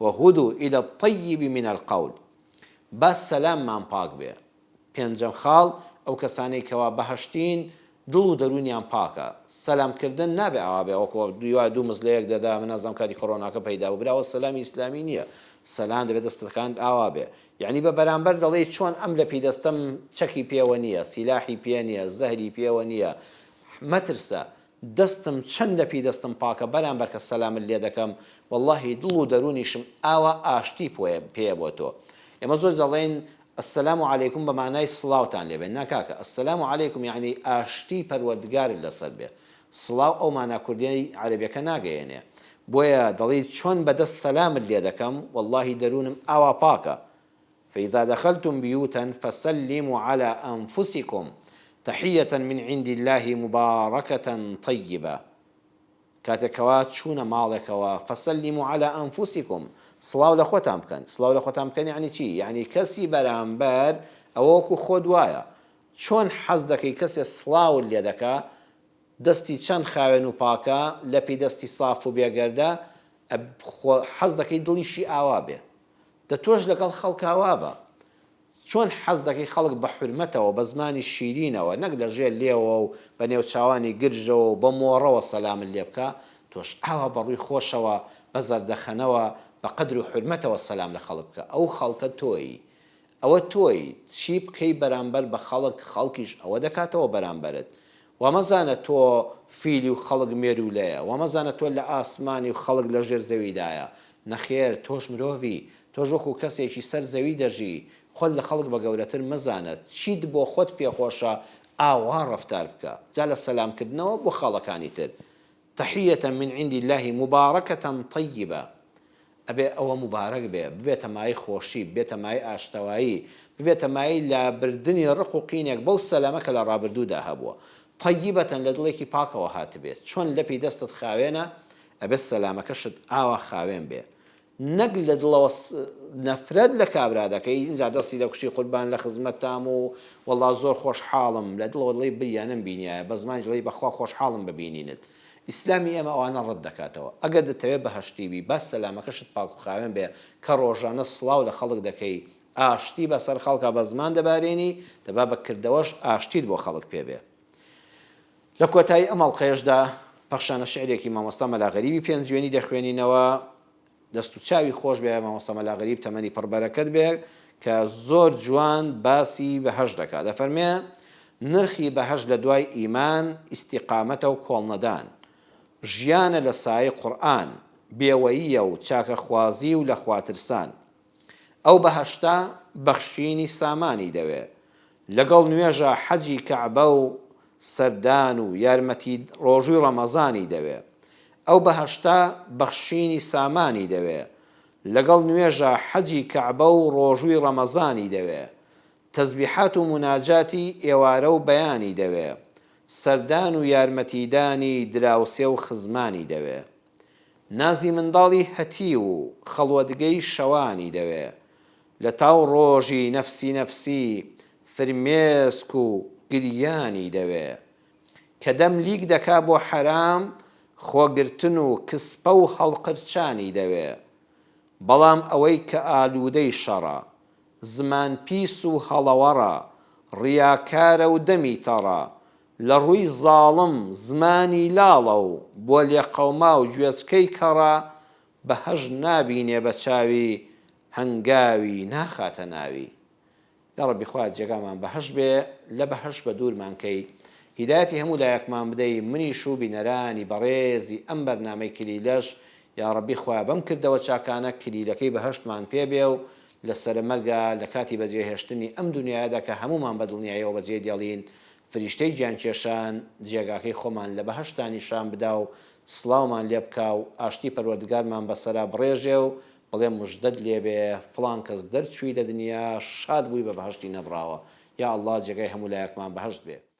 وهدو الی الطیب من القول با سەلاممان پاک بێ پێنجەم خاڵ ئەو کەسانەی کەوا بەهەشتین دڵ و دەروونیان پاکە سەلام کردن نابێ ئاوا بێ وەکو دوای دوو مز لەیەک دەدا من نازانم کاتی کۆرۆناکە پەیدا بوو برا ئەوە سەلامی ئیسلامی نیە سەلام دەبێ دەستەکانت ئاوا بێ یەعنی بە بەرامبەر دەڵێی چۆن ئەم لەپی دەستەم چەکی پێوە نیە سیلاحی پێ نیە زەهری پێوە نیە مەترسە دەستم چەند لەپی دەستم پاکە بەرامبەر کە سەلامت لێدەکەم وەڵاهی دڵ و دەرونیشم ئاوا ئاشتی پێیە بۆ تۆ ئێمە زۆر دەڵێین السلام علیکم بە مانای سڵاوتان لێبێ نا کاکە السلام علیکم یەعنی ئاشتی پەروەردگارت لەسەر بێ سڵاو ئەو مانا کوردیەی عەرەبیەکە ناگەیەنێ بۆیە دەڵێی چۆن بەدەست سەلامت لێدەکەم وەڵاهی دەرونم ئاوا پاکە فإذا دخلتم بیوتا فسلموا علی انفسکم تحیە من عند اللە مبارکە طیبە، کاتێک کەوا چوونە ماڵێکەوە، فسلموا علی انفسکم، سڵاو لە خۆتان بکەن، سڵاو لە خۆتان بکەن یەعنی چی؟ یەعنی کەسی بەرامبەر ئەوە وەکو خۆت وایە، چۆن حەز دەکەی کەسێ سڵاوت لێ دەکا دەستی چەند خاوێن و پاکە، لەپی دەستی ساف و بێگەردە، ئەب خۆ حەز دەکەی دڵیشی ئاوا بێ، دە تۆش لەگەڵ خەڵکا وابە. چۆن حەز دەکەی خەڵک بە حورمەتەوە، بە زمانی شیرینەوە، نەک لە ژێر لێوەوە و بە نێوچاوانی گرژەوە و بە مۆڕەوە سەلامت لێ بکا، تۆش ئاوا بە ڕووی خۆشەوە، بە زەردەخەنەوە، بە قەدر و حورمەتەوە سەلام لە خەڵک بکە. ئەو خەڵکە تۆیی. ئەوە تۆی چی بکەی بەرامبەر بە خەڵک خەڵکیش ئەوە دەکاتەوە بەرامبەرت وا مەزانە تۆ فیلی و خەڵک مێروولەیە وا مەزانە تۆ لە ئاسمانی و خەڵک لە ژێر زەویدایە نەخێر تۆش مرۆڤی تۆش وەکو کەسێکی سەر زەوی دەژی خۆت لە خەڵک بە گەورەتر مەزانە چیت بۆ خۆت پێخۆشە ئاوا ڕەفتار بکە جا لە سەلام کردنەوە بۆ خاڵەکانی تر تحیە من عند اللە مبارکە طیبە ئەبێ ئەوە موبارەک بێ، ببێتە مایەی خۆشی، ببێتە مایەی ئاشتەوایی، ببێتە مایەی لابردنی ڕق و قینێک بەو سەلەمە کە لە ڕابردوودا هەبووە. طیبە لە دڵێکی پاکەوە هاتبێ، چۆن لەپی دەستت خاوێنە، ئەبێ سەلامەکەشت ئاوا خاوێن بێ. نەک لە دڵەوە نەفرەت لە کابرا دەکەی ئینجا دەستی دەکوشی قوربان لە خزمەتتام و وەڵڵا زۆر خۆشحاڵم لە دڵەوە دەڵێی بریا نەمبینیایە بە زمانیش دەڵێی بەخوا خۆشحاڵم بە بینینت ئیسلامی ئێمە ئەوانە ڕەت دەکاتەوە ئەگەر دەتەوێ بەهەشتی بی با سەلامەکەشت پاک و خاوێن بێ کە ڕۆژانە سڵاو لە خەڵک دەکەی ئاشتی بەسەر خەڵکا بە زمان دەبارێنی دەبا بە کردەوەش ئاشتیت بۆ خەڵک پێ بێ. لە کۆتایی ئەم ئەڵقەیەشدا پەخشانە شعرێکی مامۆستا مەلا غەریبی پێنجوێنی دەخوێنینەوە، دەست و چاوی خۆش بێ مامۆستا مەلا غەریب تەمەنی پڕ بەرەکەت بێ کە زۆر جوان باسی بەهەشت دەکا دەفەرمێ، نرخی بەهەشت لە دوای ئیمان، ئیستیقامەتە و کۆڵنەدان، ژیانە لە سایەی قورئان، بێوەییە و چاکەخوازی و لە خواترسان، ئەو بەهەشتە بەخشینی سامانی دەوێ لەگەڵ نوێژە حەجی کەعبە و سەردان و یارمەتی ڕۆژووی ڕەمەزانی دەوێ ئەو بەهەشتە بەخشینی سامانی دەوێ لەگەڵ نوێژە حەجی کەعبە و ڕۆژووی ڕەمەزانی دەوێ تەزبیحات و موناجاتی ئێوارە و بەیانی دەوێ سەردان و یارمەتیدانی دراوسێ و خزمانی دەوێ. نازی منداڵی هەتیو و خەڵوەتگەی شەوانی دەوێ لەتاو ڕۆژی نەفسی نەفسی فرمێسک و گریانی دەوێ کە دەم لیک دەکا بۆ حەرام خۆگرتن و کسپە و هەڵقرچانی دەوێ بەڵام ئەوەی کە ئالوودەی شەڕە زمان پیس و هەڵەوەڕە ڕیاکارە و دەمی تەڕە لە ڕووی زاڵم زمانی لاڵە و بۆ لێقەوماو گوێچکەی کەڕە بە هەژ نابینێ بە چاوی هەنگاوی ناخاتە ناوی یاڕەبی خوایە جێگامان بەهەشت بێ لە بەهەشت بە دوورمان کەی هیدایەتی هەموو لایەکمان بدەی منیش و بینەرانی بەڕێزی ئەم بەرنامەی کلیلەش یاڕەبی خوایە بەم کردەوە چاکانە کلیلەکەی بەهەشتمان پێ بێ و لە سەرە مەرگا لە کاتی بەجێ هێشتنی ئەم دونیایەدا کە هەموومان بە دڵنیایەوە بەجێی دێڵین فریشتەی گیان کێشان جێگاکەی خۆمان لە بەهەشتا نیشان بدا و سڵاومان لێ بکا و ئاشتی پەروەردگارمان بەسەرا بڕێژێ و بڵێ مژدەت لێ بێ فڵان کەس دەرچووی لە دنیا شاد بووی بە بەهەشتی نەبڕاوە یا اللە جێگای هەموو لایەکمان بەهەشت بێ.